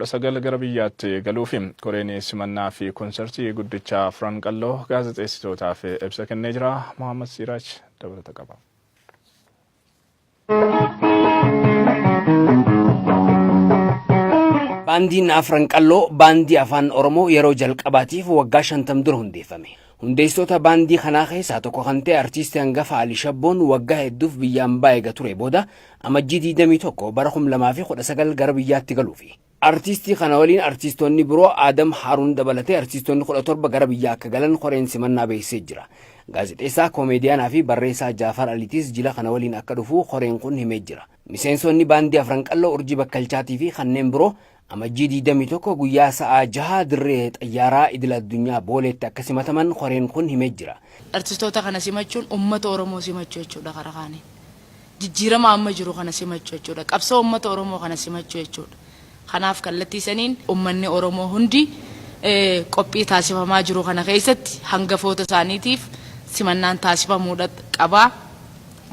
19 gara biyyaatti galuufi. Koreen simannaa fi konsartii guddicha Afran Qalloo gaazexeessitootaaf ibsa kennee jira. Mohaammed Siiraaj dabalata qaba. Baandiin Afran Qalloo baandii afaan Oromoo yeroo jalqabaatiif waggaa shantam dura hundeeffame. Hundeessitoota baandii kanaa keessaa tokko kan ta'e artiisti hangafa Ali Shabboon waggaa hedduuf biyya ambaa eega turee booda Amajjii 21 bara 2019 gara biyyaatti galuufi. Artiistii kana waliin artiistoonni biroo Aadam Haaruun dabalatee artiistoonni 17 gara biyyaa akka galan koreen simannaa beeksisee jira. Gaazexeessaa, koomeediyaanaa fi barreessaa Jaafar Aliitis jila kana waliin akka dhufu koreen kun himee jira. Miseensoonni baandii Afran Qalloo, Urjii Bakkalchaatii fi kanneen biroo Amajjii 21 guyyaa sa'a 6 dirree xayyaaraa idil addunyaa Booleetti akka simataman koreen kun himee jira. Artistoota kana simachuun ummata Oromoo simachuu jechuudha karaa kaaniin. Jijjiirama amma jiru kana simachuu jechuudha. Qabsoo ummata Oromoo kana simachuu jechuudha. Kanaaf kallattii saniin ummanni Oromoo hundi qophii taasifamaa jiru kana keessatti hangafoota isaaniitiif simannaan taasifamuudha qaba.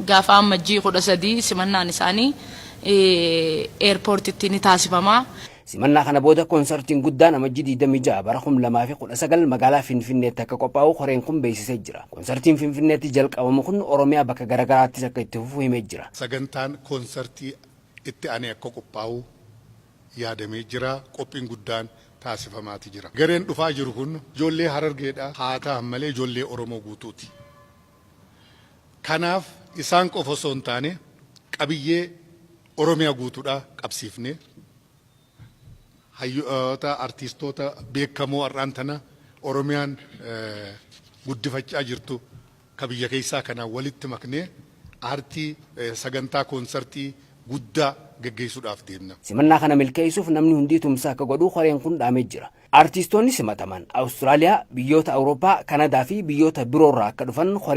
Gaafa Ammajjii 13 simannaan isaanii Eerpoortitti ni taasifama. Simannaa kana booda konsartiin guddaan Amajjii 26 bara 2019 magaalaa Finfinneetti akka qophaa'u koreen kun beeksisee jira. Konsartiin Finfinneetti jalqabamu kun Oromiyaa bakka garagaraattis akka itti fufu himee jira. Sagantaan konsartii itti anee akka qophaa'u yaadamee jira. Qophiin guddaan taasifamaati jira. Gareen dhufaa jiru kun ijoollee Harargeedha. Haa tahan malee ijoollee Oromoo guutuuti. Kanaaf isaan qofa osoo hin taane qabiyyee Oromiyaa guutuudhaa qabsiifnee hayyoota, artiistoota beekamoo har'aan tana Oromiyaan guddifachaa jirtu ka biyya keessaa kana walitti maknee aartii sagantaa koonsartii guddaa geggeessuudhaaf deemna. Simannaa kana milkeessuuf namni hundii tumsa akka godhu koreen kun dhaamee jira. Artiistoonni simataman Awustiraaliyaa, biyyoota Awurooppaa, Kanadaa fi biyyoota biroorraa akka dhufan koreen.